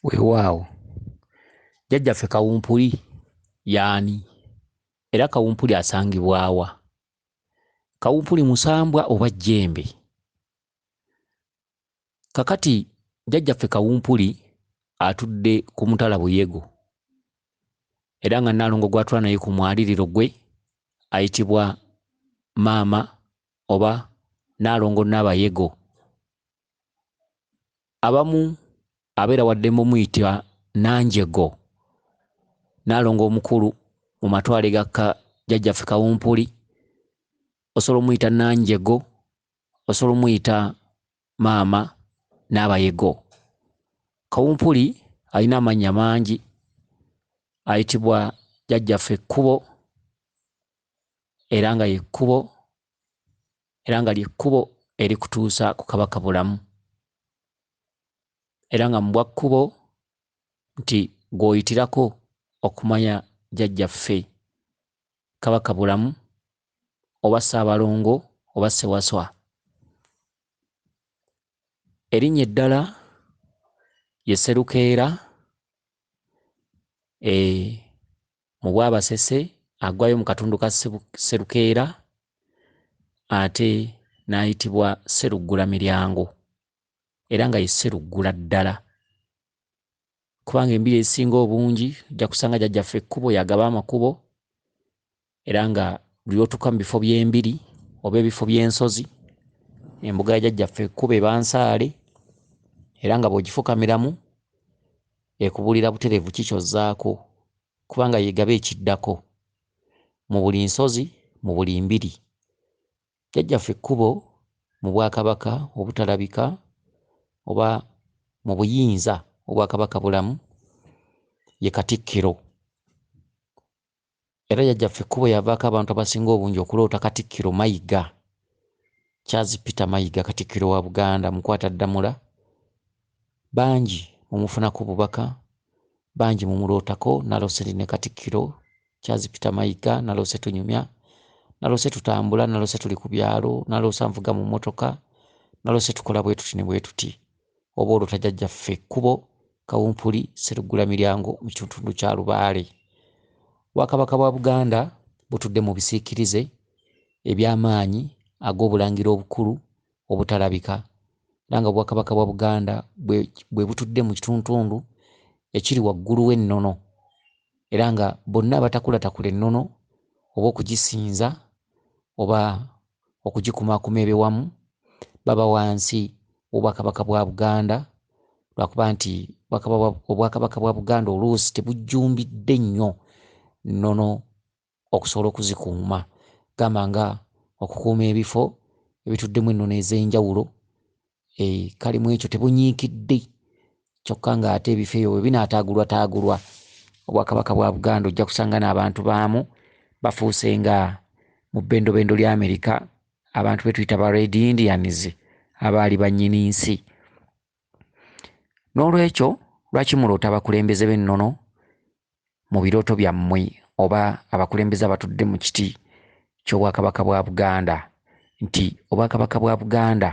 weewaawo jjajjaffe kawumpuli yaani era kawumpuli asangibwawa kawumpuli musambwa oba jjembe kakati jjajjaffe kawumpuli atudde ku mutala buyego era nga naalongo gwatula naye ku mwaliriro gwe ayitibwa maama oba naalongo naabayego abamu abeera wadde mumuyita nanjego naalongo omukulu mu matwale gakka jajjaffe kawumpuli osobola omuyita nanjego osobola omuyita maama n'abayego kawumpuli alina amannya mangi ayitibwa jajjaffe ekkubo era nga yekkubo era nga ly'ekkubo erikutuusa ku Kabaka Bulamu, era nga mu bwa kkubo nti gw'oyitirako okumanya Jjajjaffe Kabaka Bulamu oba Ssaabalongo oba Ssewaswa. Erinnya eddala ye Sserukeera, e, mu Bwabasese aggwayo mu katundu ka Sserukeera ate n'ayitibwa Sseruggulamiryango era nga ye Sseruggula ddala kubanga embiri ezisinga obungi ojja kusanga jajjaffe ekkubo yagaba amakubo era nga buli lwotuuka mu bifo by'embiri oba ebifo by'ensozi embuga ya jajjaffe ekkubo eba nsaale era nga bw'ogifukamiramu Ekubulira buterevu ki ky'ozzaako, kubanga y'egaba ekiddako. Mu buli nsozi, mu buli mbiri. Jjajjaffe Kkubo, mu bwakabaka obutalabika, oba mu buyinza obwa Kabaka Bulamu, ye Katikkiro. Era jajjaffe ekkubo yavaako abantu abasinga obungi okuloota Katikkiro Mayiga. Charles Peter Mayiga Katikkiro wa Buganda mukwata ddamula, bangi mumufunako obubaka, bangi mumulootako, naloose ndi ne Katikkiro Charles Peter Mayiga, naloose tunyumya, naloose tutambula, naloose tuli ku byalo, naloose anvuga mu mmotoka, naloose tukola bwetuti ne bwetuti. Oba olota jajjaffe ekkubo Kawumpuli Sseruggulamiryango mu kitundu kya Lubaale. Obwakabaka bwa Buganda butudde mu bisiikirize eby'amaanyi ag'obulangira obukulu obutalabika era nga Obwakabaka bwa Buganda bwe butudde mu kituntundu ekiri waggulu w'ennono era nga bonna abatakulatakula ennono oba okugisinza oba okugikumaakuma ebe wamu baba wansi w'Obwakabaka bwa Buganda lwakuba nti Obwakabaka bwa Buganda oluusi tebujjumbidde nnyo nnono okusobola okuzikuuma gamba nga okukuuma ebifo ebituddemu ennono ez'enjawulo eh, kali mu ekyo tebunyiikidde kyokka ng'ate ebifo ebyo bwe binaataagulwataagulwa obwakabaka bwa buganda ojja kusanga n'abantu baamu bafuuse nga mu bbendobendo lya amerika abantu be tuyita ba red indians abaali bannyini nsi n'olwekyo lwaki muloota abakulembeze b'ennono mu birooto byammwe oba abakulembeze abatudde mu kiti ky'obwakabaka bwa Buganda nti obwakabaka bwa Buganda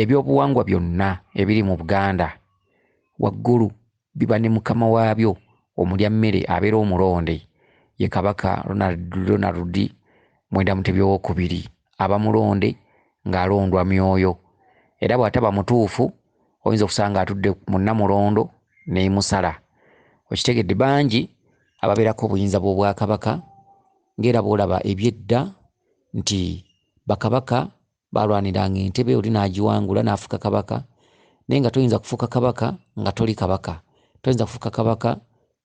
ebyobuwangwa byonna ebiri mu Buganda waggulu biba ne mukama waabyo omulya mmere abeera omulonde ye Kabaka Ronald Ronald Mwenda Mutebi Owookubiri aba mulonde ng'alondwa myoyo era bw'ataba mutuufu oyinza okusanga atudde mu namulondo nemusala okitegedde bangi ababeerako obuyinza bw'obwakabaka ng'era bwolaba ebyedda nti bakabaka balwaniranga entebe oli n'agiwangula n'afuuka kabaka naye nga toyinza kufuuka kabaka nga toli kabaka toyinza kufuuka kabaka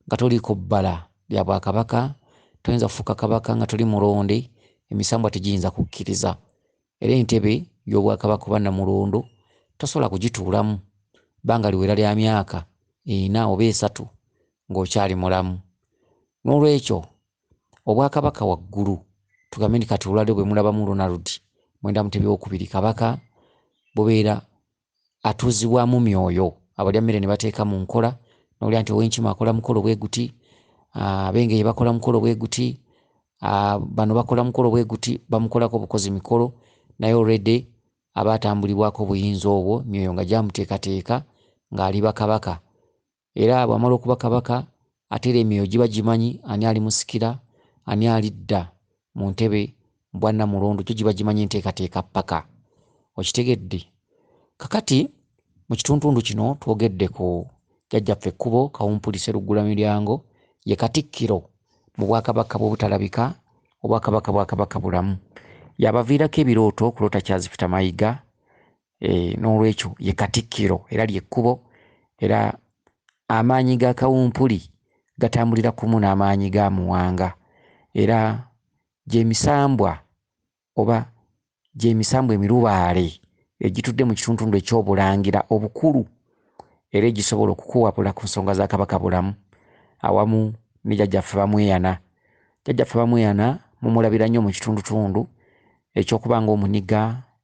nga toliiko bbala lya bwakabaka toyinza kufuuka kabaka nga toli mulonde emisambwa tegiyinza kukkiriza Era entebe y'obwakabaka oba Namulondo tosobola kugituulamu bbanga liwera lya myaka ena oba esatu ng'okyali mulamu. N'olwekyo Obwakabaka waggulu, tugambe nti kati olwaleero bwe mulabamu Ronald Mwenda Mutebi ow'okubiri, Kabaka, bubeera atuuzibwamu myoyo abalya mmere ne bateeka mu nkola nowulira nti owenkima akola mukolo bwe guti abengeye bakola mukolo bwe guti bano bakola mukolo bwe guti bamukolako obukozi mikolo naye olredi aba atambulibwako obuyinza obwo myoyo nga gyamuteekateeka ng'ali bakabaka Era bw'amala okuba kabaka, ate era emyoyo giba gimanyi ani alimusikira, ani alidda mu ntebe bwa nnamulondo, gyo giba gimanyi enteekateeka ppaka. Okitegedde? Kakati, mu kituntundu kino twogedde ku Jjajjaffe Ekkubo Kawumpuli Sseruggulamiryango, ye Katikkiro mu Bwakabaka bw'obutalabika, Obwakabaka bwa Kabaka Bulamu. Y'abaviirako ebirooto okuloota Kyazifita Mayiga, Eh, n'olwekyo ye katikkiro era lyekkubo era amaanyi ga kawumpuli gatambulira kumu n'amaanyi ga muwanga era gyemisambwa oba gyemisambwa emirubaale egitudde mu kituntundu ekyobulangira obukulu era egisobola okukuwabula ku nsonga za kabaka bulamu awamu ne jajjaffe bamweyana jajjaffe bamweyana mumulabira nnyo mu kitundutundu ekyokuba ngaomuniga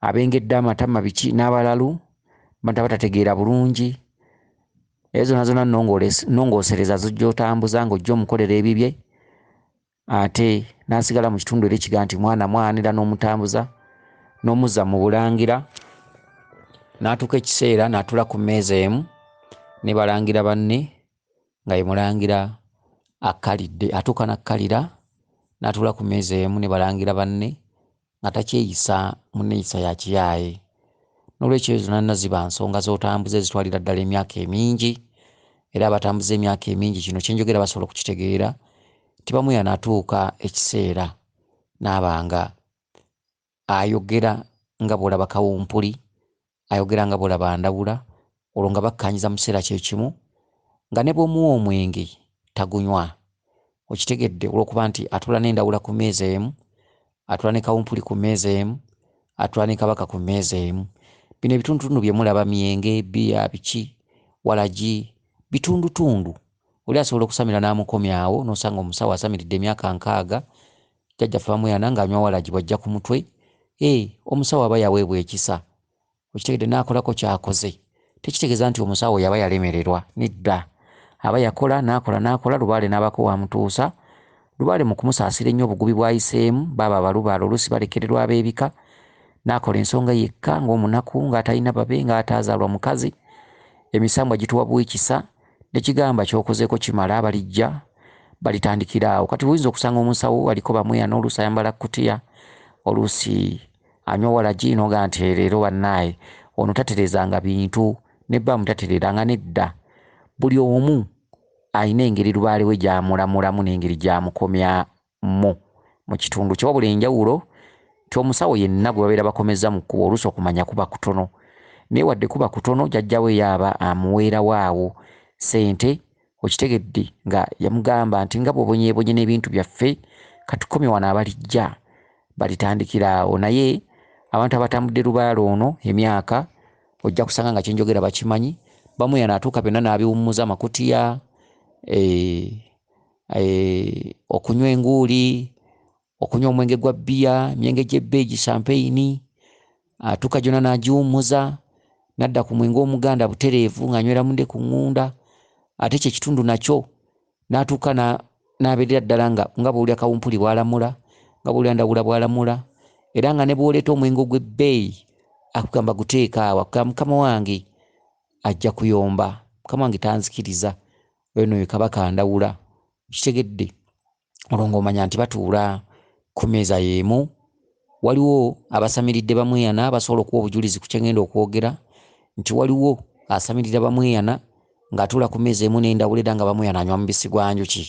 abengedde amatama biki n'abalalu bantu abatategeera bulungi eyo zona zona nongosereza zojja otambuza ng'ojja omukolera ebibye ate n'asigala mu kitundu era ekiga nti mwana mwanira n'omutambuza n'omuzza mu bulangira n'atuuka ekiseera n'atula ku mmeeza emu ne balangira banne nga ye mulangira akkalidde atuuka n'akkalira n'atuula ku mmeeza emu ne balangira banne nga takyeyisa mu nneeyisa ya kiyaaye n'olwekyo ezo nanna ziba nsonga z'otambuza ezitwalira ddala emyaka emingi era abatambuza emyaka emingi kino kye njogera basobola okukitegeera tibamu yanatuuka ekiseera n'abanga ayogera nga bw'olaba kawumpuli, ayogera nga bw'olaba ndawula, olwo nga bakkaanyiza mu kiseera kye kimu, nga ne bw'omuwa omwenge tagunywa. Okitegedde? Olw'okuba nti atuula n'endawula ku mmeeza emu, atuula ne kawumpuli ku mmeeza emu, atuula ne kabaka ku mmeeza emu. Bino ebitundutundu bye mulaba, myenge, bbiya, biki, walagi, bitundutundu. Oli asobola okusamira n'amukomyawo, n'osanga omusawo asamiridde emyaka nkaaga, Jjajja ffe bamuyana nga anywa walagi bwajja kumutwe ee omusawo aba yaweebwa ekisa okitegedde nakolako kyakoze tekitegeza nti omusawo yaba yalemererwa nedda aba yakola nakola nakola lubaale nabako wamutuusa lubaale mukumusaasira ennyo obugubi bwayiseemu baaba abalubaale oluusi balekererwa abebika nakola ensonga yekka nga omunaku nga atalina babe nga ataazaalwa mukazi emisambwa gituwa buikisa Nekigamba kyokozeko kimala balijja balitandikira awo kati buyinza okusanga omusawo aliko bamweyana oluusi ayambala kutiya oluusi anywa walagi noga nti eh, leero banaye ono taterezanga bintu nebba mutaterera nga nedda buli omu alina engeri lubaale we gyamulamulamu nengeri gyamukomya mu mu kitundu kye wabula enjawulo nti omusawo yenna gwe babeera bakomezza mu kkubo oluusi okumanya kuba kutono naye wadde kuba kutono jajja we yaaba amuweerawo awo ssente okitegedde nga yamugamba nti nga bwobonyebonye n'ebintu byaffe katukomye wano abalijja balitandikira awo naye abantu abatambudde lubaala ono emyaka ojja kusanga nga kyenjogera bakimanyi bamu yano atuuka byonna n'abiwummuza amakutiya eh, eh, okunywa enguuli okunywa omwenge gwa bbiya emyenge gy'ebbeegi champeyini atuuka gyonna n'agiwummuza n'adda ku mwenge omuganda butereevu ng'anywera munde ku ŋŋunda ate kye kitundu nakyo n'atuuka n'abeerera ddala nga nga bw'olya kawumpuli bw'alamula nga bw'olya ndawula bw'alamula era nga ne bw'oleeta omwenge ogw'ebbeeyi akugamba guteeka awo akugamba mukama wange ajja kuyomba mukama wange tanzikiriza Oyo noyo kabaka ndawula kitegedde olwo ng'omanya nti batuula ku meeza y'emu waliwo abasamiridde bamweyana basobola okuwa obujulizi ku kyengenda okwogera nti waliwo asamirira bamweyana ng'atuula ku meeza emu n'endawula era nga bamweyana anywa mubisi gwa njuki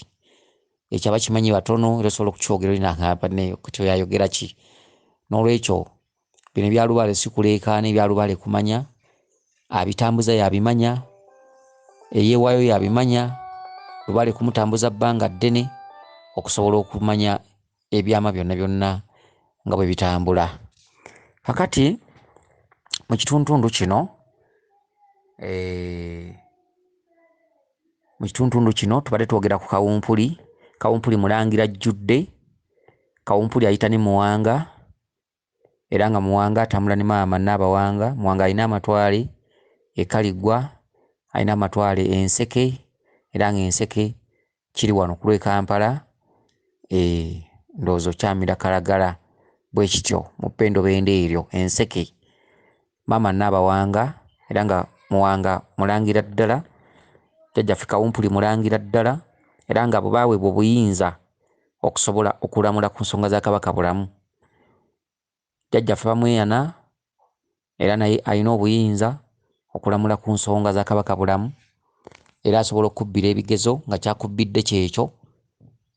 ekyo abakimanyi batono era osobola okukyogera olina banne kyoyayogera ki n'olwekyo Bino ebya lubaale sikuleekaana, ebya lubaale kumanya, abitambuza y'abimanya, eyeewaayo y'abimanya, lubaale kumutambuza bbanga ddene okusobola okumanya ebyama byonna byonna nga bwe bitambula. Kakati mu kituntundu kino eh, mu kituntundu kino tubadde twogera ku kawumpuli kawumpuli mulangira ajjudde kawumpuli ayita ne muwanga era nga Muwanga atambula ne maama Nnaabawanga. Muwanga alina amatwale e Kaliggwa, alina amatwale e Nseke era nga Enseke kiri wano ku lw'e Kampala, eeh ndowooza okyamira Kalagala bwe kityo mu Ppendobendo eryo Enseke. Maama Nnaabawanga era nga Muwanga mulangira ddala, Jjajjaffe Kawumpuli mulangira ddala era nga abo baaweebwa obuyinza okusobola okulamula ku nsonga za Kabaka bulamu. Jjajjaffe Bamweyana era naye alina obuyinza okulamula ku nsonga za Kabaka bulamu era asobola okukubbira ebigezo nga ky'akubbidde ky'ekyo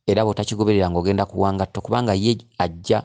era bw'otakigoberera ng'ogenda kuwa ngatto kubanga ye ajja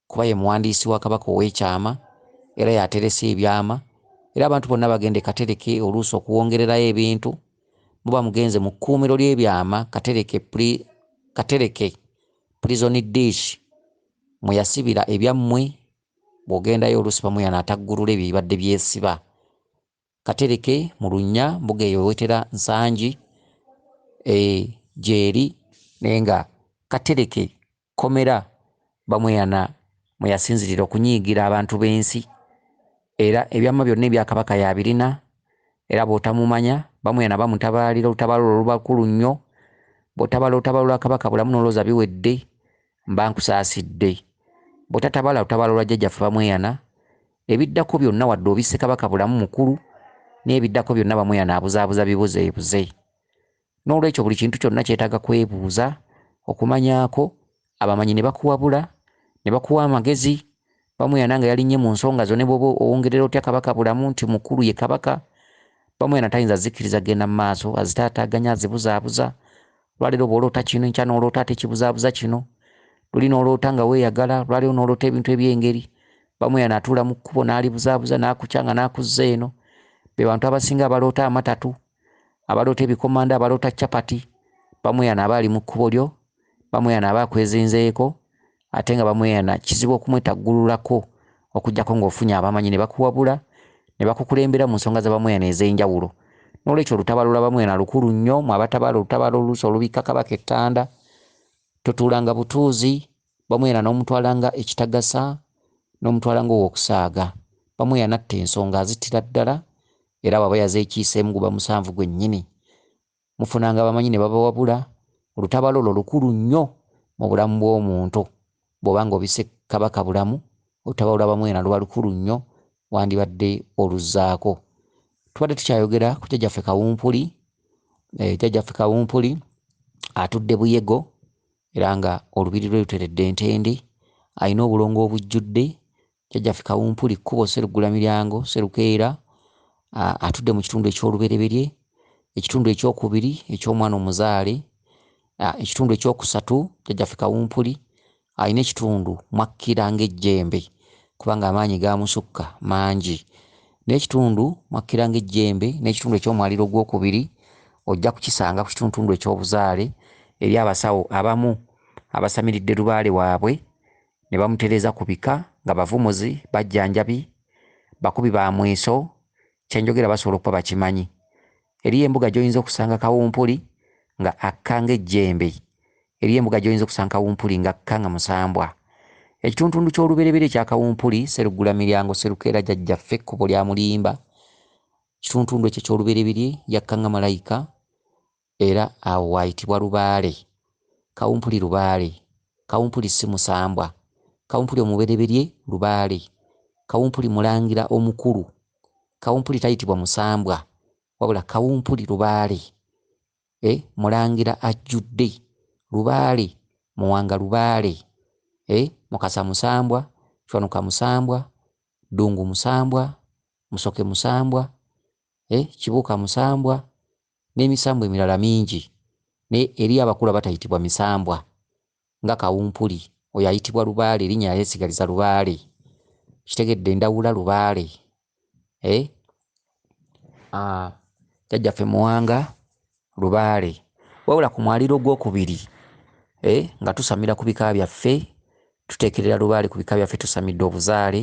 kuba ye muwandiisi wa Kabaka ow'ekyama era y'aterese ebyama era abantu bonna bagenda e Katereke oluusi okuwongererayo ebintu muba mugenze mu kkuumiro ly'ebyama Katereke pri, Katereke Prison Dish mwe yasibira ebyammwe bw'ogendayo oluusi bamuyana ataggulula ebyo ebibadde byesiba Katereke, Mulunnya, mbuga eyo wewetera Nsangi e, gyeri naye nga Katereke kkomera Bamweyana mwe yasinzirira okunyiigira abantu b'ensi era ebyama byonna ebya Kabaka y'abirina era bw'otamumanya Bamweyana bamutabaalira olutabaalo olwo luba lukulu nnyo bw'otabala olutabaalo lwa Kabaka Bulamu n'olowooza biwedde mba nkusaasidde bw'otatabala lutabaalo lwa Jjajjaffe Bamweyana Ebiddako byonna wadde obisse Kabaka bulamu mukulu n'ebiddako byonna Bamweyana abuzaabuza bibuzeebuze. N'olwekyo buli kintu kyonna kyetaaga kwebuuza, okumanyaako, abamanyi ne bakuwabula, ne bakuwa amagezi, Bamweyana nga yalinnye mu nsonga zo ne bw'oba owongerera otya Kabaka bulamu nti mukulu ye Kabaka, Bamweyana tayinza zikkiriza kugenda mu maaso, azitaataaganya, azibuzaabuza, lwaleero bw'oloota kino enkya n'oloota ate kibuzaabuza kino luli n'oloota nga weeyagala lwaleero n'oloota ebintu eby'engeri bamu yanaatuula mu kkubo n'alibuzaabuza n'akukya nga n'akuzza eno be bantu abasinga abaloota amatatu abaloota ebikomando abaloota capati bamu yanaaba ali mu kkubo lyo bamu yanaaba akwezinzeeko ate nga bamweyana kizibu okumwetaggululako okuggyako ng'ofunye abamanyi ne bakuwabula ne bakukulembera mu nsonga za bamweyana ez'enjawulo. N'olwekyo olutabaalo lwa bamweyana lukulu nnyo, mmwe abatabaala olutabaalo oluusi olubikka Kabaka ekkanda, totuulanga butuuzi bamweyana n'omutwala nga ekitagasa, n'omutwala nga ow'okusaaga. Bamweyana atta ensonga azittira ddala era bw'aba yazeekiiseemu guba musanvu gwennyini. mufunanga abamanyi ne babawabula, olutabaalo olwo lukulu nnyo mu bulamu bw'omuntu, bw'oba nga obisse Kabaka bulamu, olutabaalo lwa Bamwena luba lukulu nnyo, wandibadde oluzzaako. Tubadde tukyayogera ku Jjajjaffe Kawumpuli, eh, Jjajjaffe Kawumpuli atudde Buyego era nga olubiri lwe luteredde ntende, alina obulongo obujjudde, Jjajjaffe Kawumpuli Kkubo Sseruggulamilyango Sserukeera atudde mu kitundu eky'olubereberye, ekitundu eky'okubiri eky'omwana omuzaale, ekitundu eky'okusatu Jjajjaffe Kawumpuli alina ekitundu mwakkira ng'ejjembe kubanga amaanyi gaamusukka mangi. N'ekitundu mwakkira ng'ejjembe n'ekitundu eky'omwaliro ogwokubiri ojja kukisanga ku kituntundu eky'obuzaale eri abasawo abamu abasamiridde lubaale waabwe ne bamutereeza ku bika nga bavumuzi, bajjanjabi, bakubi ba mweso, kye njogera basobola okuba bakimanyi. Eriyo embuga gy'oyinza okusanga kawumpuli nga akka ng'ejjembe, eriyo embuga gy'oyinza okusanga kawumpuli ng'akka nga musambwa. Ekituntundu ky'olubereberye ekya kawumpuli, Sseruggulamiryango, Sserukeera jajjaffe ekkubo lyamulimba, ekituntundu ekyo eky'olubereberye yakka nga malayika, Era awo waayitibwa lubaale. Kawumpuli lubaale. Kawumpuli ssi musambwa. Kawumpuli omubereberye lubaale. Kawumpuli mulangira omukulu. Kawumpuli tayitibwa musambwa. Wabula Kawumpuli lubaale. Eh, mulangira ajjudde. Lubaale. Muwanga lubaale. Eh, Mukasa musambwa. Kiwanuka musambwa. Ddungu musambwa. Musoke musambwa. Eh, Kibuuka musambwa. n'emisambwa emirala mingi naye eri abakulu abatayitibwa misambwa nga kawumpuli oyo ayitibwa lubaale erinnya yayesigaliza lubaale kitegedde ndawula lubaale eh? ah, jajjaffe muwanga lubaale wabula ku mwaliro ogwokubiri eh? nga tusamira ku bika byaffe tuteekerera lubaale ku bika byaffe tusamidde obuzaale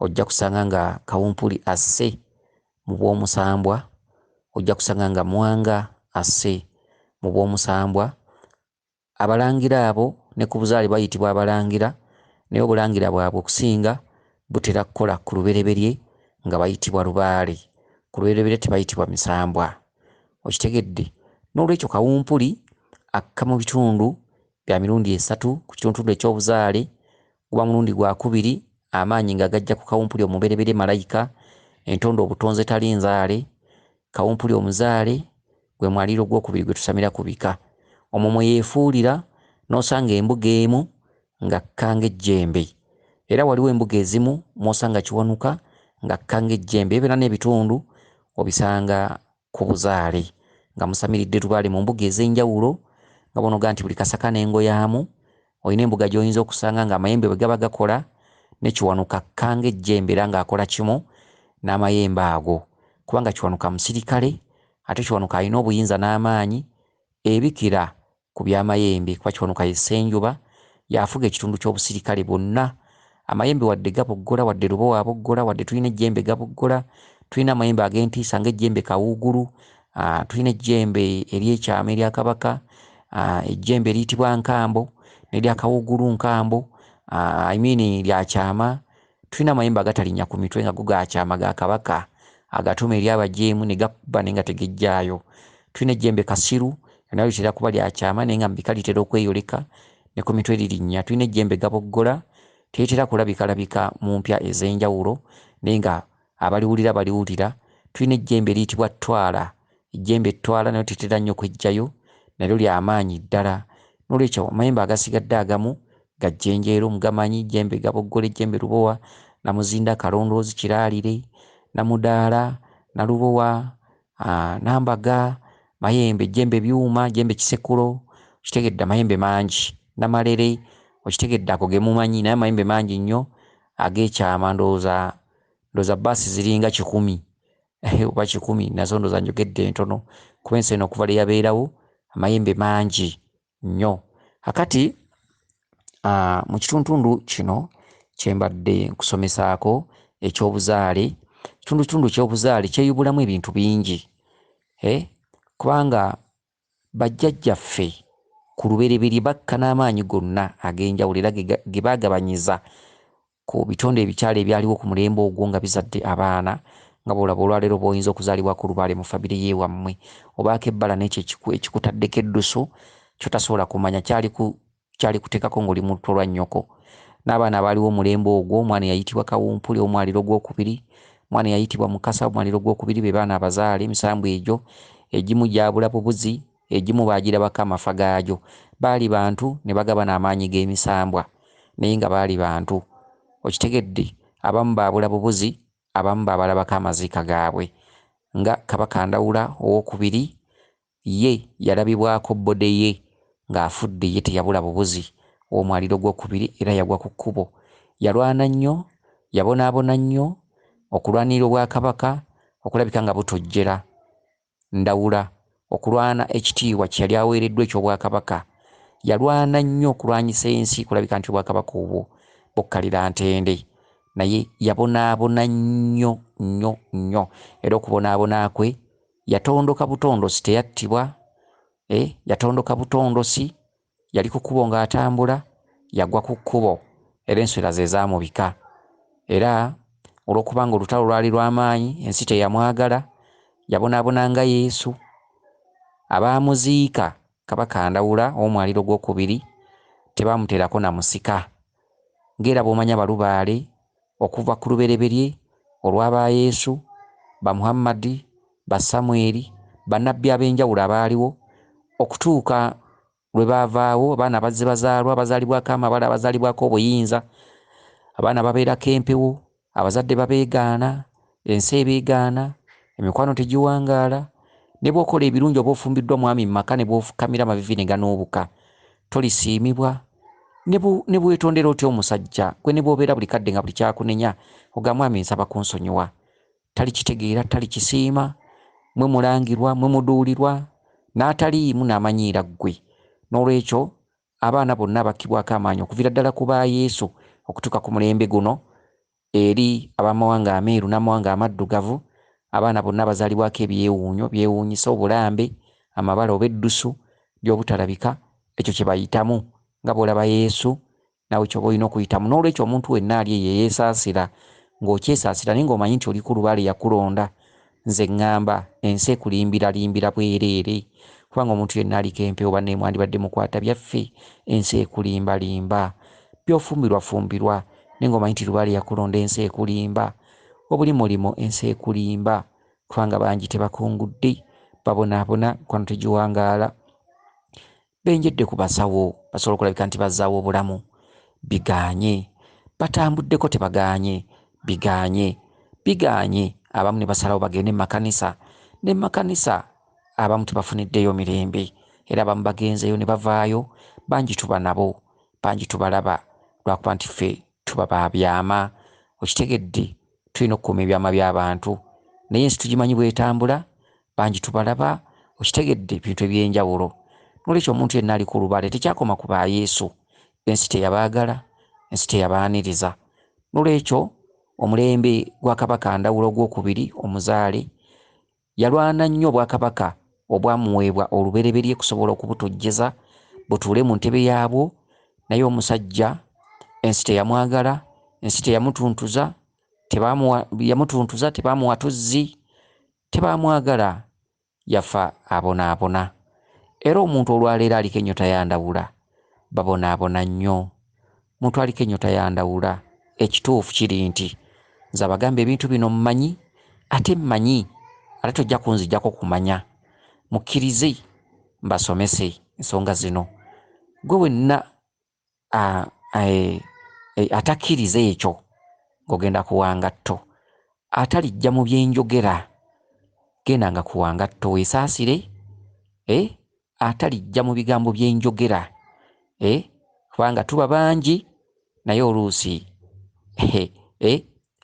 ojja kusanga nga kawumpuli asse mu bw'omusambwa ojja kusanga nga Mwanga asse mu bw'omusambwa. Abalangira abo ne ku buzaale bayitibwa Abalangira naye obulangira bwabwe okusinga butera kukola ku lubereberye nga bayitibwa Lubaale. Ku lubereberye tebayitibwa Misambwa. Okitegedde? Noolwekyo kawumpuli akka mu bitundu bya mirundi esatu ku kituntundu eky'obuzaale Guba mulundi gwa kubiri amaanyi nga gajja ku kawumpuli omubereberye Malayika, entondo obutonzi etali nzaale, kawumpuli omuzaale, gwe mwaliiro gw'okubiri gwe tusamira ku bika. Omwo mwe yeefuulira n'osanga embuga emu nga kka ng'ejjembe. Era waliwo embuga ezimu mw'osanga Kiwanuka nga kka ng'ejjembe. Ebyo byonna n'ebitundu obisanga ku buzaale nga musamiridde lubaale mu mbuga ez'enjawulo nga bonoga nti buli kasaka n'engo yaamu, olina embuga gy'oyinza okusanga ng'amayembe bwe gaba gakola ne Kiwanuka akka ng'ejjembe era ng'akola kimu n'amayembe ago kubanga Kiwanuka musirikale ate Kiwanuka alina obuyinza n'amaanyi ebikira ku bya Mayembe kuba Kiwanuka ye Ssenjoba y'afuga ekitundu ky'obusirikale bwonna. Amayembe wadde gaboggola, wadde Lubowa aboggola, wadde tulina ejjembe gaboggola, tulina amayembe ag'entiisa ng'ejjembe Kawuugulu, ah, tulina ejjembe ery'ekyama erya Kabaka, ah, ejjembe eriyitibwa Nkambo, n'erya Kawuugulu Nkambo, ah, I mean lya kyama. Tulina amayembe agatalinnya ku mitwe nga go ga kyama ga Kabaka, agatuma eri abajeemu ne gakubba naye nga tegejjaayo. Tulina ejjembe kasiru, nga nalyo litera kuba lya kyama naye nga mu bika litera okweyoleka, ne ku mitwe lirinnya. Tulina ejjembe gaboggola, teritera kulabikalabika mu mpya ez'enjawulo naye nga Abaliwulira baliwulira. Tulina ejjembe eriyitibwa Ttwala. Ejjembe Ttwala nalyo tetera nnyo kweggyayo, nalyo lya maanyi ddala. N'olwekyo amayembe agasigadde agamu ga jjenjeero, mugamanyi, Jjembe Gaboggole, Jjembe Lubowa, Namuzinda, Kalondoozi, Kiraalire, Namudaala, Nalubowa, Nambaga, Mayembe, Jjembe Byuma, Jjembe Kisekulo, okitegedde, amayembe mangi. Namalere, okitegedde, ago ge mumanyi, naye amayembe mangi nnyo ag'ekyama ndowooza ndoza bus ziringa kikumi oba kikumi nazo ndoza njogedde ntono kuba ensi eno okuva leyaberawo amayembe mangi nyo akati uh, mu kituntundu kino kyembadde nkusomesaako ekyobuzaale kitundu kitundu kyobuzaale kyeyubulamu ebintu bingi eh? kubanga Bajjajjaffe ku lubereberye bakka n'amaanyi gonna ag'enjawulo era ge ge baagabanyiza ku bitonde ebikyala ebyaliwo ku mulembe ogwo nga bizadde abaana nga bw'olaba olwaleero b'oyinza okuzaalibwako olubaale mu famire y'ewammwe obaako ebbala n'ekyo ekiku ekikutaddeko eddusu ky'otasobola kumanya kyali ku Tukyali kuteekako ng'oli mu luto lwa nnyoko. N'abaana abaaliwo omulembe ogwo, omwana eyayitibwa Kawumpuli ow'mwaliro ogw'okubiri, omwana eyayitibwa Mukasa ow'mwaliro ogw'okubiri be baana abazaale, emisambwa egyo, egimu gyabula bubuzi, egimu baagirabako amafa gaagyo. Baali bantu, ne bagabana amaanyi g'emisambwa, naye nga baali bantu. Okitegedde? Abamu baabula bubuzi, abamu baabalabako amaziika gaabwe. Nga Kabaka Ndawula ow'okubiri Ye yalabibwako bbode ye ng'afudde ye teyabula bubuzi w'omwaliiro gw'okubiri era yagwa ku kkubo. Yalwana nnyo, yabonaabona nnyo, okulwanirira Obwakabaka okulabika nga butojjera Ndawula, okulwana ekitiibwa kye yali aweereddwa eky'Obwakabaka. Yalwana nnyo okulwanyisa ensi kulabika nti Obwakabaka obwo bukkalira ntende. Naye yabonaabona nnyo nnyo nnyo era okubonaabona kwe. yatondoka butondosi teyattibwa eh, yatondoka butondosi yali ku kkubo ng'atambula yagwa ku kkubo era enswera ze zaamubika era olw'okubanga olutalo lwali lw'amaanyi ensi teyamwagala yabonaabona nga yesu abaamuziika Kabaka Ndawula ow'Omwaliiro gw'okubiri tebaamuteerako na musika ng'era bw'omanyi Abalubaale okuva ku lubereberye olwa ba Yesu, ba Muhammad, ba Samweli, Bannabbi ab'enjawulo abaaliwo okutuuka lwe baavaawo, abaana abazze bazaalwa, abazaalibwako amabala, abazaalibwako obuyinza, abaana ababeerako empewo, Abazadde babeegaana, ensi ebeegaana, emikwano tegiwangaala, ne bw'okola ebirungi oba ofumbiddwa mwami mu maka ne bw'ofukamira amaviivi ne ganuubuka tolisiimibwa, ne bw'etondera otya omusajja gwe ne bw'obeera buli kadde nga buli ky'akunenya ogamba mwami nsaba kunsonyiwa talikitegeera, talikisiima, mwe mulangirwa, mwe muduulirwa n'ataliimu n'amanyiira ggwe. N'olwekyo abaana bonna abakkibwako amaanyi okuviira ddala ku ba Yesu okutuuka ku mulembe guno, eri ab'amawanga ameeru n'amawanga amaddugavu, abaana bonna abazaalibwako ebyewuunyo, byewuunyisa, obulambe, amabala oba eddusu by'obutalabika, ekyo kye bayitamu. Nga bw'olaba Yesu, naawe ky'oba olina okuyitamu. N'olwekyo, omuntu wenna ali eyo eyeesaasira, ng'okyesaasira naye ng'omanyi nti oli ku lubaale, yakulonda. Nze ngamba ensi ekulimbira limbira bwereere kubanga omuntu yenna aliko empewo banaye mwandibadde mukwata byaffe ensi ekulimba limba byofumbirwa fumbirwa naye nga omanyi nti lubaale yakulonda ensi ekulimba obuli mulimo ensi ekulimba kubanga bangi tebakungudde babonabona mukwano tegiwangaala benjedde ku basawo basobola okulabika nti bazzaawo obulamu bigaanye, batambuddeko tebagaanye, bigaanye, bigaanye abamu ne basalawo bagende mu makanisa ne mu makanisa abamu tebafuniddeyo mirembe era abamu bagenzeeyo ne bavaayo bangi tuba nabo bangi tubalaba lwakuba nti ffe tuba ba byama okitegedde tulina okukuuma ebyama by'abantu naye ensi tugimanyi bwetambula Bangi tubalaba, okitegedde, bintu eby'enjawulo. N'olwekyo omuntu yenna ali ku lubaale tekyakoma ku ba Yesu. Ensi teyabaagala, ensi teyabaaniriza. N'olwekyo omulembe gwa Kabaka Ndawula ogw'okubiri, omuzaale, yalwana nnyo obwakabaka obwamuweebwa olubereberye kusobola okubutojjeza butuule mu ntebe yaabwo, naye omusajja ensi teyamwagala, ensi teyamutuntuza, tebaamuwa, yamutuntuza, tebaamuwa tuzzi, Tebaamwagala, yafa abonaabona. Era omuntu olwaleero aliko ennyota ya Ndawula, babonaabona nnyo. Muntu aliko ennyota ya Ndawula. Ekituufu kiri nti, nze abagamba ebintu bino mmanyi, ate mmanyi, ate tojja kunzigyako kumanya. Mukkirize mbasomese ensonga zino. Ggwe wenna atakkiriza ekyo ng'ogenda ku wa ngatto, ataliggya mu bye njogera, gendanga ku wa ngatto weesaasire, eh, ataliggya mu bigambo bye njogera, eh, kubanga tuba bangi naye oluusi, eh, eh,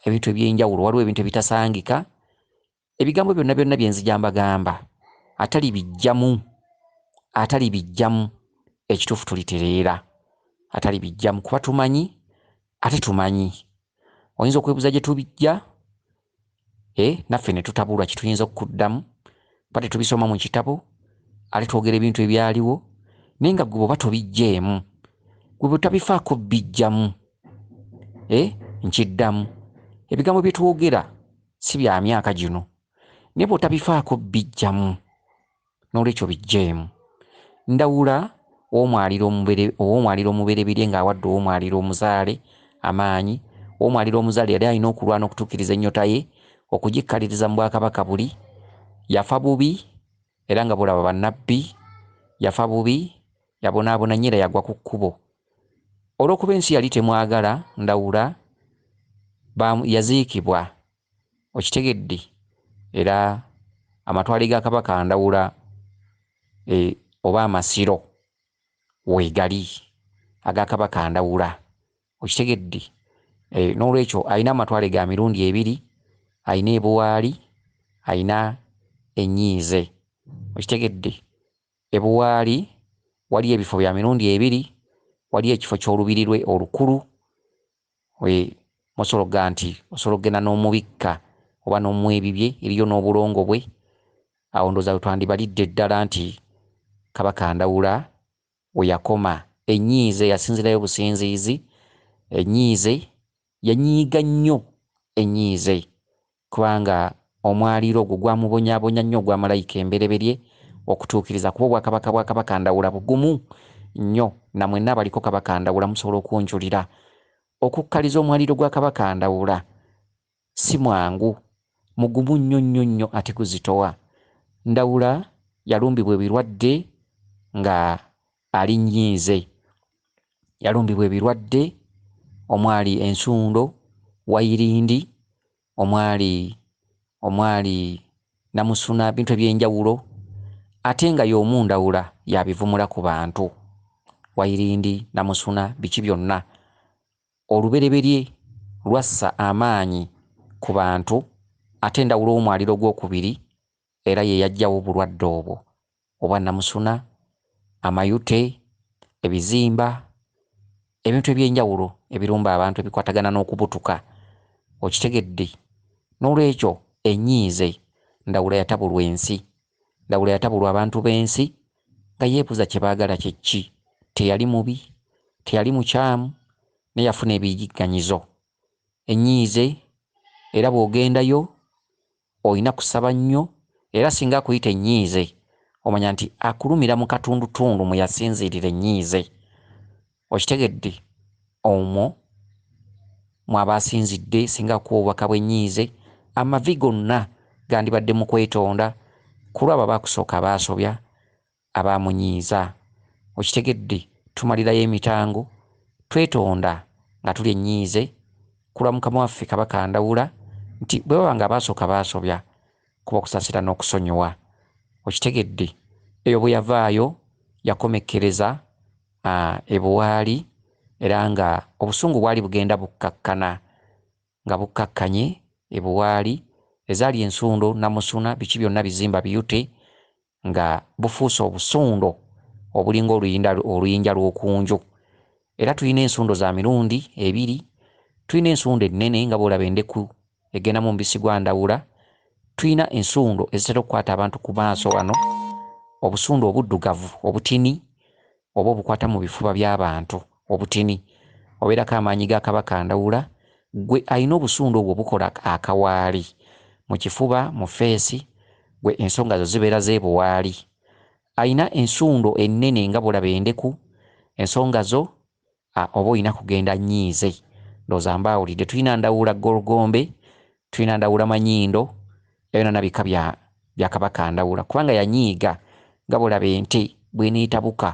ebintu eby'enjawulo waliwo ebintu ebitasangika ebigambo byonna byonna bye nzija mbagamba atalibijjamu atalibijjamu ekituufu tulitereera atalibijjamu kuba tumanyi ate tumanyi oyinza okwebuza gye tubijja e eh, naffe ne tutabulwa kye tuyinza okuddamu ba tetubisoma mu kitabo ate twogera ebintu ebyaliwo naye nga gwe bwoba tobijjeemu gwe bwetabifaako bijjamu e eh, nkiddamu ebigambo bye twogera si bya myaka gino naye bw'otabifaako bijjamu n'olwekyo bijjeemu ndawula ow'omwaliro omubereberye ng'awadde ow'omwaliro omuzaale amaanyi ow'omwaliro omuzaale yali alina okulwana okutuukiriza ennyota ye okugikkaliriza mu bwakabaka buli yafa bubi era nga bw'olaba bannabbi yafa bubi yabonaabona nnyo era yagwa ku kkubo Olw'okuba ensi yali temwagala, Ndawula baamu, yaziikibwa. Okitegedde? Era amatwale ga Kabaka Ndawula e, oba amasiro, weegali, aga Kabaka Ndawula. Okitegedde? E, n'olwekyo alina amatwale ga mirundi ebiri, alina e Buwaali, alina ennyiize. Okitegedde? E Buwaali waliyo ebifo bya mirundi ebiri, waliyo ekifo ky'Olubiri lwe olukulu we mosobola okugaa nti osobola okugenda n'omubikka oba n'omuwa ebibye, eriyo n'obulongo bwe, awo ndowooza we twandibalidde ddala nti Kabaka Ndawula we yakoma. Ennyiize yasinziirayo businziizi, ennyiize yanyiiga nnyo ennyiize Kubanga omwaliiro ogwo gwamubonyaabonya nnyo ogwa Malayika embereberye okutuukiriza, kuba obwakabaka bwa Kabaka Ndawula bugumu nnyo, na mwenna abaliko Kabaka Ndawula musobola okunjulira. Okukkaliza omwaliiro gwa Kabaka Ndawula si mwangu, mugumu nnyo nnyo nnyo ate guzitowa. Ndawula yalumbibwa ebirwadde nga Alinnyinze yalumbibwa ebirwadde omwali ensundo, wayirindi, omwali omwali namusuna ebintu eby'enjawulo ate nga y'omu Ndawula y'abivumula ku bantu. Wayirindi, namusuna biki byonna olubereberye lwassa amaanyi ku bantu ate Ndawula omwaliro gw'okubiri era ye yaggyawo obulwadde obwo, obwa nnamusuna, amayute, ebizimba, ebintu eby'enjawulo ebirumba abantu ebikwatagana n'okubutuka. Okitegedde? N'olwekyo, enyiize, Ndawula yatabulwa ensi. Ndawula yatabulwa abantu b'ensi, nga yeebuuza kye baagala kye ki. Teyali mubi. Teyali mukyamu. Naye yafuna ebiyigganyizo. Enyiize, era bw'ogendayo, Olina kusaba nnyo era singa akuyita ennyiize omanya nti akulumira mu katundutundu mwe yasinziirira ennyiize. Okitegedde? Omwo mw'aba asinzidde singa akuwa obubaka bw'ennyiize, amavi gonna gandibadde mu kwetonda, ku lw'abo abaakusooka abaasobya, aba amunyiiza. Okitegedde tumalirayo emitango, twetonda nga tulya ennyiize ku lwa Mukama waffe Kabaka Ndawula nti bwe baba ng'abaasooka baasobya kuba okusaasira n'okusonyiwa. Okitegedde eyo bwe yavaayo yakomekkereza e Buwaali era ng'obusungu bwali bugenda bukkakkana nga bukkakkanye e Buwaali, ezaali ensundo, nnamusuna, biki byonna bizimba biyute nga bufuuse obusundo obulinga oluyinda oluyinja lw'oku nju. Era tulina ensundo za mirundi ebiri, tulina ensundo ennene nga bw'olaba endeku egenda mu mubisi gwa Ndawula, tulina ensundo ezitera okukwata abantu ku maaso wano, obusundo obuddugavu obutini, oba obukwata mu bifuba by'abantu, obutini, obeerako amaanyi ga Kabaka Ndawula, ggwe alina obusundu obwo bukola akawaali mu kifuba, mu ffeesi, ggwe ensonga zo zibeera z'ebuwaali. Alina ensundo ennene nga bulaba endeku, ensonga zo A oba olina kugenda nyiize. Ndowooza mbaawulidde. Tulina Ndawula Gorgombe, tulina Ndawula Manyindo, ebyo byonna bika bya bya Kabaka Ndawula kubanga yanyiiga nga bw'olaba ente bw'eneetabuka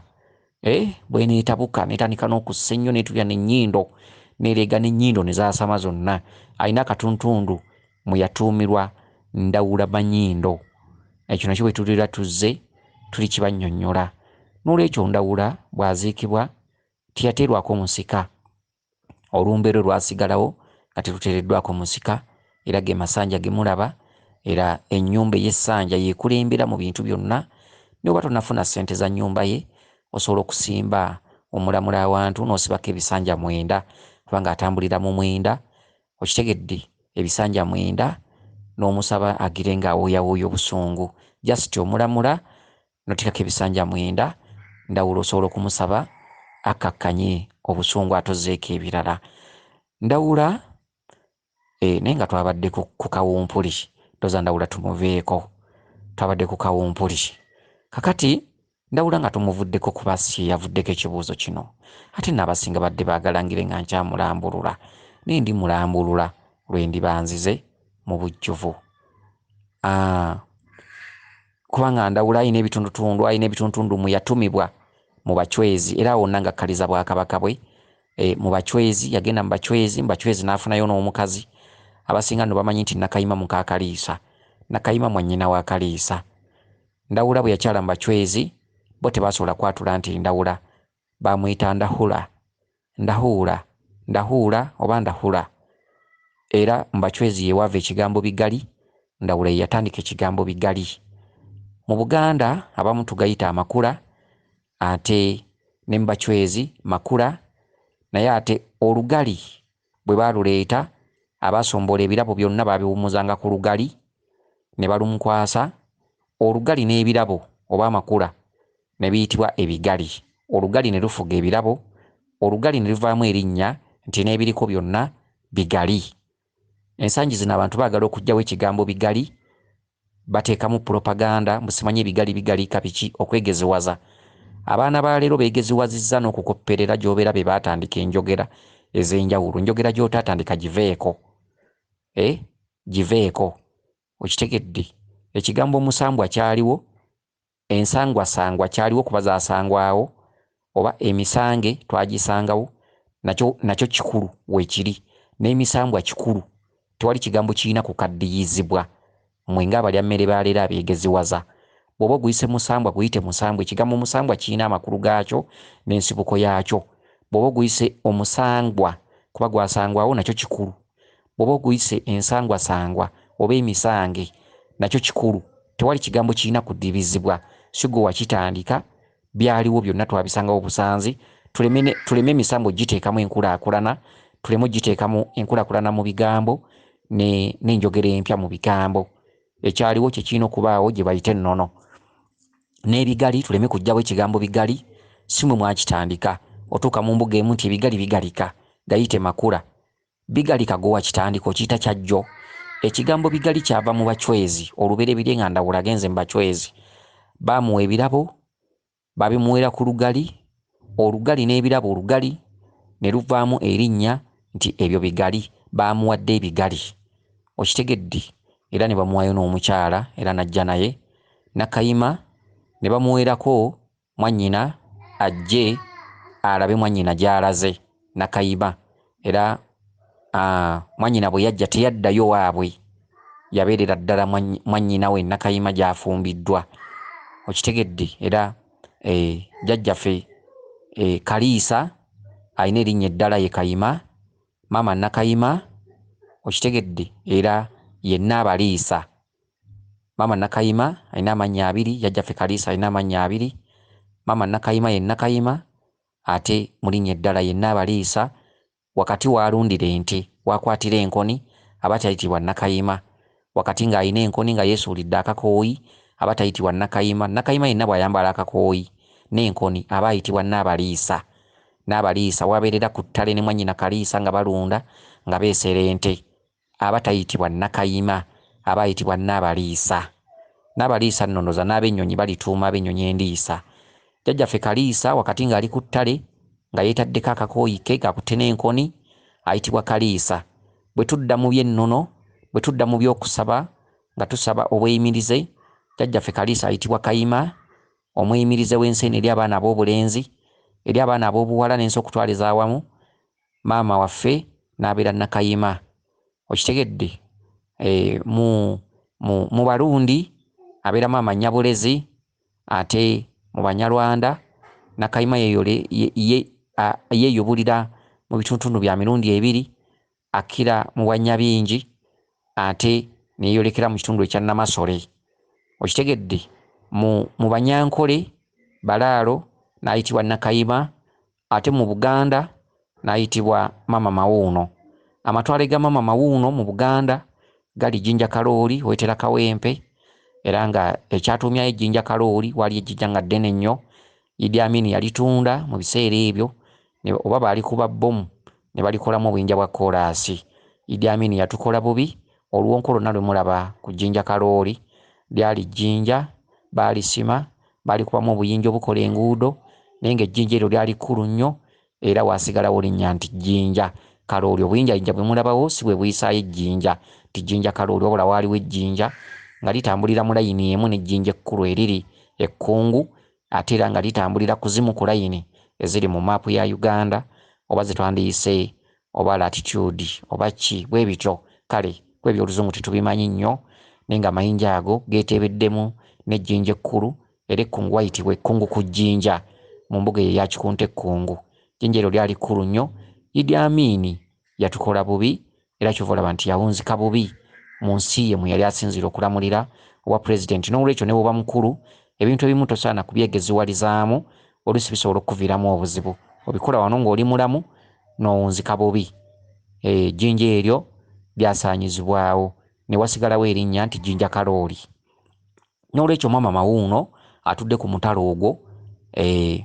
eh bw'eneetabuka n'etandika n'okussa ennyo n'etubya n'ennyindo n'ereega n'ennyindo ne zaasama zonna. Alina akatuntundu mwe yatuumirwa Ndawula Manyindo. Ekyo nakyo bwe tubeera tuzze tulikibannyonnyola. Noolwekyo Ndawula bw'aziikibwa teyateerwako musika, olumbe lwe lwasigalawo nga teruteereddwako musika era ge masanja ge mulaba era ennyumba ey'essanja y'ekulembera mu bintu byonna ne bw'oba tonnafuna ssente za nnyumba ye osobola okusimba omulamula awantu n'osibako ebisanja mwenda kubanga atambulira mu mwenda okitegedde ebisanja mwenda n'omusaba agire ng'awooyawooya obusungu just omulamula notekako ebisanja mwenda ndawula osobola okumusaba akkakkanye obusungu atozeeko ebirala ndawula e, naye nga twabadde ku kawumpuli toza ndawula tumuveeko twabadde ku kawumpuli kakati ndawula nga tumuvuddeko kuba si yavuddeko ekibuuzo kino ate naabasinga badde baagalangire nga nkyamulambulula naye ndi mulambulula lwe ndibanzize mu bujjuvu ah, Kubanga Ndawula alina ebitundutundu, alina ebitundutundu mwe yatumibwa mu Bachwezi era awo wonna ng'akkaliza Bwakabaka bwe e, mu Bachwezi. Yagenda mu Bachwezi, mu Bachwezi n'afunayo n'omukazi. Abasinga nno bamanyi nti Nakayima muka Kaliisa. Nakayima mwannyina wa Kaliisa. Ndawula bwe yakyala mu Bachwezi, bo tebaasobola kwatula nti Ndawula bamuyita Ndahula, Ndahuula, Ndahuula oba Ndahula era mu Bachwezi ye waava ekigambo Bigali, Ndawula ye yatandika ekigambo Bigali. Mu Buganda abamu tugayita Amakula ate ne mu Bachwezi Makula naye ate Olugali Bwe baaluleeta, abaasomboola ebirabo byonna baabiwummuzanga ku lugali, ne balumkwasa, olugali n'ebirabo, oba amakula, ne biyitibwa ebigali, olugali ne lufuga ebirabo, olugali ne luvaamu erinnya nti n'ebiriko byonna bigali. Ensangi zino abantu baagala okuggyawo ekigambo bigali Batekamu propaganda mbu simanyi ebigali bigalika biki okwegeziwaza abaana ba lero begeziwaziza nokukopperera gyobera bebatandika enjogera ezenjawulo njogera gyotatandika giveeko e giveeko okitegedde ekigambo omusambwa kyaliwo Ensangwasangwa kyaliwo kuba zasangwawo oba emisange twagisangawo nakyo nakyo kikulu wekiri nemisambwa kikulu tewali kigambo kirina kukaddiyizibwa mwe nga abalya mmere ba leero abegeziwaza bwoba oguyise musambwa guyite musambwa ekigambo musambwa kirina amakulu gakyo nensibuko yakyo bwoba oguyise omusangwa kuba gwasangwawo nakyo kikulu bwoba oguyise ensangwasangwa oba emisange nakyo kikulu tewali kigambo kirina kudibizibwa sigwe wakitandika byaliwo byonna twabisangawo busanzi tuleme emisambo giteekamu enkulakulana tuleme ogiteekamu enkulakulana mu bigambo n'enjogera empya mu bigambo ekyaliwo kyekirina okubaawo gye bayite ennono n'ebigali tuleme kujjawo ekigambo bigali si mwe mwakitandika otuuka mu mbuga emu nti ebigali bigalika gayite makula Bigali Kagowa Kitandika okiyita kya jjo? Ekigambo Bigali kyava mu Bachwezi olubereberye nga Ndawula agenze mu Bachwezi. Baamuwa ebirabo, baabimuweera ku lugali, olugali n'ebirabo olugali ne luvaamu erinnya nti ebyo bigali, baamuwadde ebigali. Okitegedde? Era ne bamuwaayo n'omukyala era n'ajja naye, Nakayima, ne bamuweerako mwannyina ajje alabe mwannyina gy'alaze Nakayiba era mwannyina bwe yajja teyaddayo waabwe yabeerera ddala mwannyina we Nakayima gy'afumbiddwa okitegedde era eh, jjajjafe eh, Kaliisa alina erinnya eddala ye Kayima maama Nakayima okitegedde era yenna abaliisa Maama Nakayima alina amannya abiri, Jjajjaffe Kaliisa alina amannya abiri. Maama Nakayima ye Nakayima ate mu linnya eddala ye Nnaabaliisa. Wakati w'alundira ente, w'akwatira enkoni aba tayitibwa Nakayima. Wakati ng'alina enkoni nga yeesuulidde akakooyi aba tayitibwa Nakayima. Nakayima yenna bw'ayambala akakooyi n'enkoni aba ayitibwa Nnaabaliisa. Nnaabaliisa w'abeerera ku ttale ne mwannyina Kaliisa nga balunda nga beesera ente. aba tayitibwa Nakayima, aba ayitibwa Nnaabaliisa. Nnaabaliisa nnonoza n'abennyonyi balituuma ab'ennyonyi endiisa. Jjajjaffe Kaliisa wakati ng'ali ku ttale nga yeetaddeko akakooyi ke ng'akutte n'enkoni, ayitibwa Kaliisa. Bwe tudda mu by'ennono, bwe tudda mu by'okusaba nga tusaba obweyimirize, Jjajjaffe Kaliisa ayitibwa Kayima, omweyimirize w'ensi eno eri abaana ab'obulenzi, eri abaana ab'obuwala n'ensi okutwaliza awamu, maama waffe n'abeera Nakayima okitegedde eh, mu, mu, mu Barundi abeera maama Nyabulezi ate mu Banyarwanda Nakayima yeyole ye, ye, a, yeyubulira mu bituntundu bya mirundi ebiri akkira mu Bwanyabingi ate neyolekera mu kitundu ekya Namasole okitegedde mu, mu Banyankole Balaalo n'ayitibwa Nakayima Ate mu Buganda n'ayitibwa Mama Mawuuno. Amatwale ga Mama Mawuuno mu Buganda gali Jinja Kalooli, Wetera Kawempe era nga ekyatuumyayo e Jinja Kalooli waali ejjija nga ddene nnyo, Idi Amin yalitunda mu biseera ebyo ne oba baalikuba bbomu ne balikolamu obuyinja bwa kkoolaasi. Idi Amin yatukola bubi, oluwonko lwonna lwe mulaba ku Jinja Kalooli lyali jjinja, baalisima Baalikubamu obuyinja obukola enguudo, naye ng'ejjinja eryo lyali kkulu nnyo, era waasigalawo linnya nti Jjinja Kalooli. Obuyinjayinja bwe mulabawo si bwe buyisaayo ejjinja nti Jjinja Kalooli, wabula waaliwo ejjinja nga litambulira mu layini emu n'ejjinja ekkulu eriri e Kkungu ate era nga litambulira ku zimu ku layini eziri mu maapu ya Uganda oba ze twandiyise oba latitude oba ki bwebityo kale kwe byoluzungu tetubimanyi nnyo naye nga amayinja ago geteebeddemu n'ejjinja ekkulu era ekkungu wayitibwa ekkungu ku jjinja mu mbuga eyo eya Kikunta ekkungu jjinja eryo lyali kkulu nnyo Idi Amin yatukola bubi era kyova olaba nti yawunzika bubi mu nsi ye mwe yali asinziira okulamulira obwa pulezidenti n'olwekyo ne bwoba mukulu ebintu ebimu tosaana kubyegeziwalizaamu oluusi bisobola okukuviiramu obuzibu. Obikola wano ng'oli mulamu n'owunzika bubi. Ejjinja eryo lyasaanyizibwawo ne wasigalawo erinnya nti Jjinja Kalooli. Noolwekyo maama Mawuuno atudde ku mutala ogwo.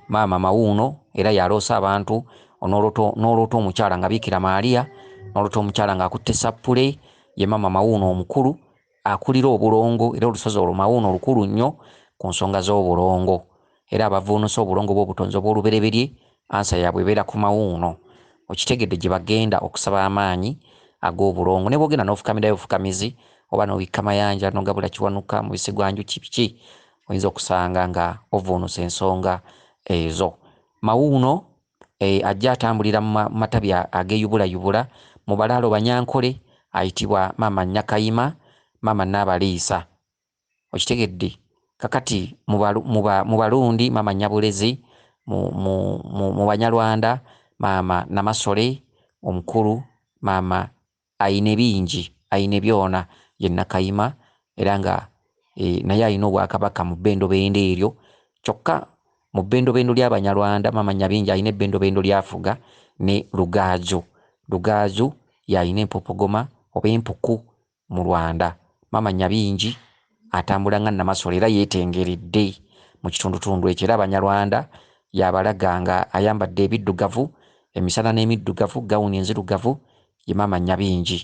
Maama Mawuuno era y'aloosa abantu. Onoolota n'oloota omukyala nga Biikira Maaria, n'oloota omukyala ng'akutte ssappule, ye maama Mawuuno omukulu. Akulira obulongo era olusozi olwo Mawuuno lukulu nnyo ku nsonga z'obulongo era abavvuunusa obulongo bw'obutonzi obw'olubereberye ansa yaabwe ebeera ku Mawuuno. Okitegedde gye bagenda okusaba amaanyi ag'obulongo ne bw'ogenda n'ofukamirayo bufukamizi oba n'obikka mayanja n'ogabula Kiwanuka, mubisi gwa njuki biki oyinza okusanga nga ovvuunusa ensonga ezo. Mawuuno eh, ajja atambulira mu matabi ageeyubulayubula mu balaalo Banyankole ayitibwa Maama Nyakayima, Maama Nnaabaliisa. Okitegedde? Kakati mu Balundi Maama Nyabulezi, mu Banyarwanda Maama Namasole omukulu, Maama Aine bingi, aine byona, ye Nakayima era nga naye alina obwakabaka mu bendobendo eryo kyokka mu bendobendo lya Banyarwanda Maama Nyabingi alina ebendobendo lyafuga ne Rugaaju. Rugaaju y'alina empopogoma oba empuku mu Rwanda. Maama Nyabingi atambula nga Namasole era yeetengeredde mu kitundutundu ekyo era Abanyarwanda yabalaga nga ayambadde ebiddugavu emisana n'emiddugavu gawuni enzirugavu ye maama Nyabingi.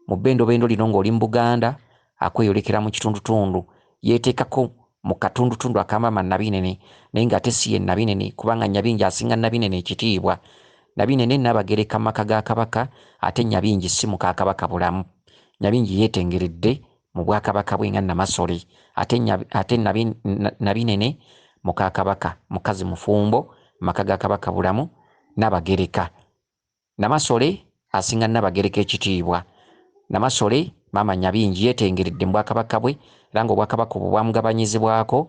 Mu bbendobendo lino ng'oli mu Buganda akweyolekera mu kitundutundu yeeteekako mu katundutundu aka maama Nabinene naye ng'ate si ye Nabinene kubanga Nyabingi asinga Nabinene ekitiibwa. Nabinene Nnaabagereka mu maka ga Kabaka ate Nyabingi si muka Kabaka bulamu. Nyabingi yeetengeredde mu bwakabaka bwe nga Namasole ate ate Nabinene muka Kabaka mukazi mufumbo maka ga Kabaka Bulamu Nabagereka. Namasole asinga Nabagereka ekitiibwa. Namasole maama Nyabingi yeetengeredde mu bwakabaka bwe era ng'obwakabaka obwo bwamugabanyizibwako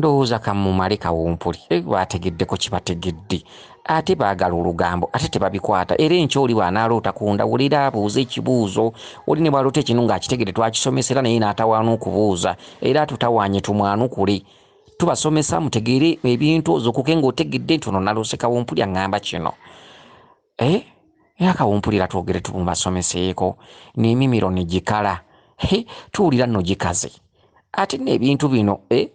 ndowooza kamumale kawumpuli baategeddeko kibategedde ate baagala olugambo ate tebabikwata era enkya oli bw'anaaloota ku ndawulira abuuza ekibuuzo oli ne bwaloota ekinu ng'akitegedde twakisomesa era naye n'atawaana okubuuza era atutawaanye tumwanukule tubasomesa mutegeere ebintu ozukuke ng'otegedde nti ono naloose kawumpuli aŋŋamba kino Eh? Yakawumpulira twogere tumubasomeseeko n'emimiro ne gikala. He, tuwulira nno gikaze. Ate nno ebintu bino, eh?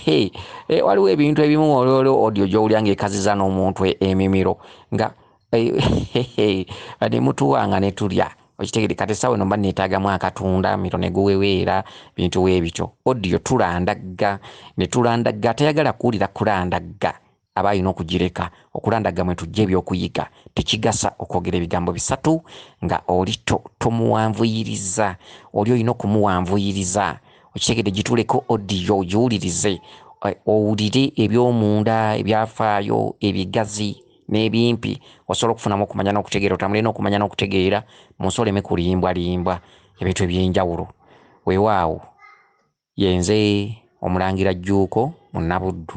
He, eh, waliwo ebintu ebimu olwolo odio gy'owulira ng'ekaziza n'omuntu e, emimiro nga eh, ne mutuwa nga ne tulya okitegede kati esawa eno mba neetaagamu akatunda miro ne guweweera bintu w'ebityo odio tulandagga ne tulandagga atayagala kuwulira kulandagga aba alina okugireka okulandaga mwe tujja ebyokuyiga tekigasa okwogera ebigambo bisatu nga oli tomuwanvuyiriza oli olina okumuwanvuyiriza okitegede gituleko odiyo ogiwulirize eh, owulire ebyomunda ebyafaayo ebigazi n'ebimpi osobola okufunamu okumanya n'okutegeera otambule n'okumanya n'okutegeera mu nsi oleme kulimbwalimbwa ebintu eby'enjawulo weewaawo Yenze Omulangira Jjuuko Munnabuddu.